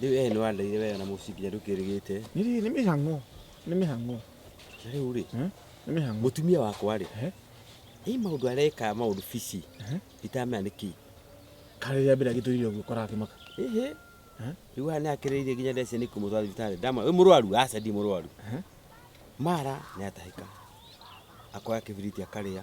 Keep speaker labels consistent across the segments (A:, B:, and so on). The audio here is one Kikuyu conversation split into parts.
A: Rĩu eh nĩ wandaire wega na mũciĩ nginya ndũkĩrĩgĩte. Nĩ rĩrĩ nĩ mĩhang'o.
B: Nĩ mĩhang'o. Na rĩu
A: rĩ, Eh? Nĩ mĩhang'o. mũtumia
B: wakwa rĩ,
A: Eh? ĩ maũndũ areka maũndũ bici Eh? itamenya nĩ kĩ. Karĩ rĩa
B: mbere agĩtũire ũguo kora akĩmaka. Ĩhĩ. Eh?
A: Rĩu haha nĩ akĩrĩirie nginya ndece nĩ kũmũtwara thibitarĩ. Ndama, wĩ mũrwaru? Aca ndi mũrwaru. Eh? Mara nĩ atahĩka. Akoya kĩbiriti akarĩa.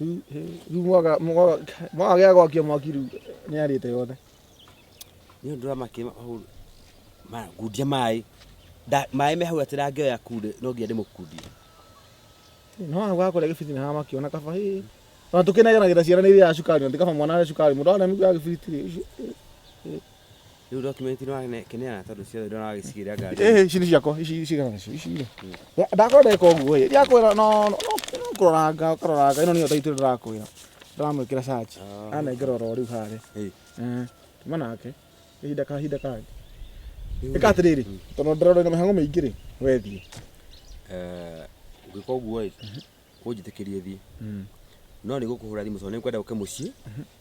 A: Rĩu
B: mwaga mwaga mwaga gĩa gwakia mwaki rĩu nĩ arĩte yothe. Nĩ
A: ũndũ wa makĩ ngundia maĩ maĩ me hau atĩ ndangĩoya kunde no nginya ndĩmũkundie.
B: No hau gakũrĩa gĩbiriti nĩ hamakĩona kaba hĩ. Ona tũkĩnegenagĩra ciana nĩ irĩaga cukari na ti kaba mwana arĩa cukari mũndũ arĩa mĩguĩ ya gĩbiriti rĩ.
A: Rĩu document ino kĩneana tondũ ciothe ndona wagĩcigĩrĩa ngari. Eh, ici nĩ ciakwa, ici ici
B: kana ici ici. rĩ. Ndakorwo ndeka ũguo ĩ, ndiakwĩra no no no kũroranga ũkaroranga ĩno nĩyo taitũ ndĩrakwĩra. Ndĩramwĩkĩra search. Ah. Anengera oro rĩu harĩa. Hey. Eh, tuma nake. Kahinda kahinda kangĩ. Ĩka atĩrĩrĩ, tondũ ndĩrona ĩna mĩhang'o mĩingĩ rĩ, we thiĩ. Eh,
A: ngwĩka ũguo ĩ, ũnjĩtĩkĩrie thiĩ. No nĩ gũkũhũra thimũ tondũ nĩ ngwenda ũke mũciĩ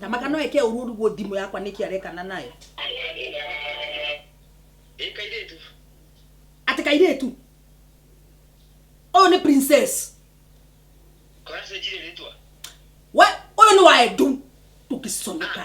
C: na maka no eke ũru ũruguo ndimũ yakwa nĩkĩ arekana nayo atĩ kairĩtu ũyũ nĩ princess
D: we
C: ũyũ nĩ wa edu tũkĩconoka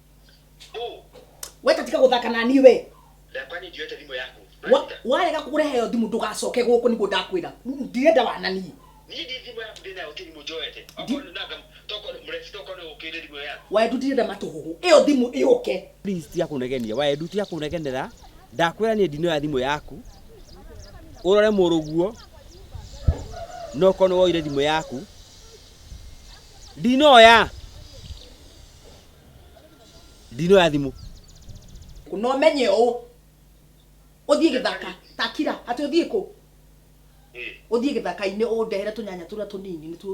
C: Boo, we tatika guthaka na niĩ we na kwani ndiyote
D: thimũ yaku? Wa- Marita, warega kurehe
C: yo thimũ ndũgacoke gũkũ nĩguo ndakwĩra ndirenda wananie niĩ ndi thimũ yaku
D: ndĩ nayo ti thimũ njoete. Ndi- Okorwo nanga tokorwo mũreci tokorwo nĩ ũkĩrĩ thimũ yaku. wendu ndirenda matũhũgũ
C: ĩyo thimũ ĩyũke please tia kunegenia
A: wae ndu tia kunegenera ndakwira ni ndino ya thimu yaku urore muruguo no kono woire thimu yaku ndinoya ndino ya thimũ
C: na ũmenye ũũ ũthiĩ gĩthaka takira atĩ ũthiĩ kũ ũthiĩ gĩthaka-inĩ ũndehere tũnyanya tũrĩa tũnini nĩtuo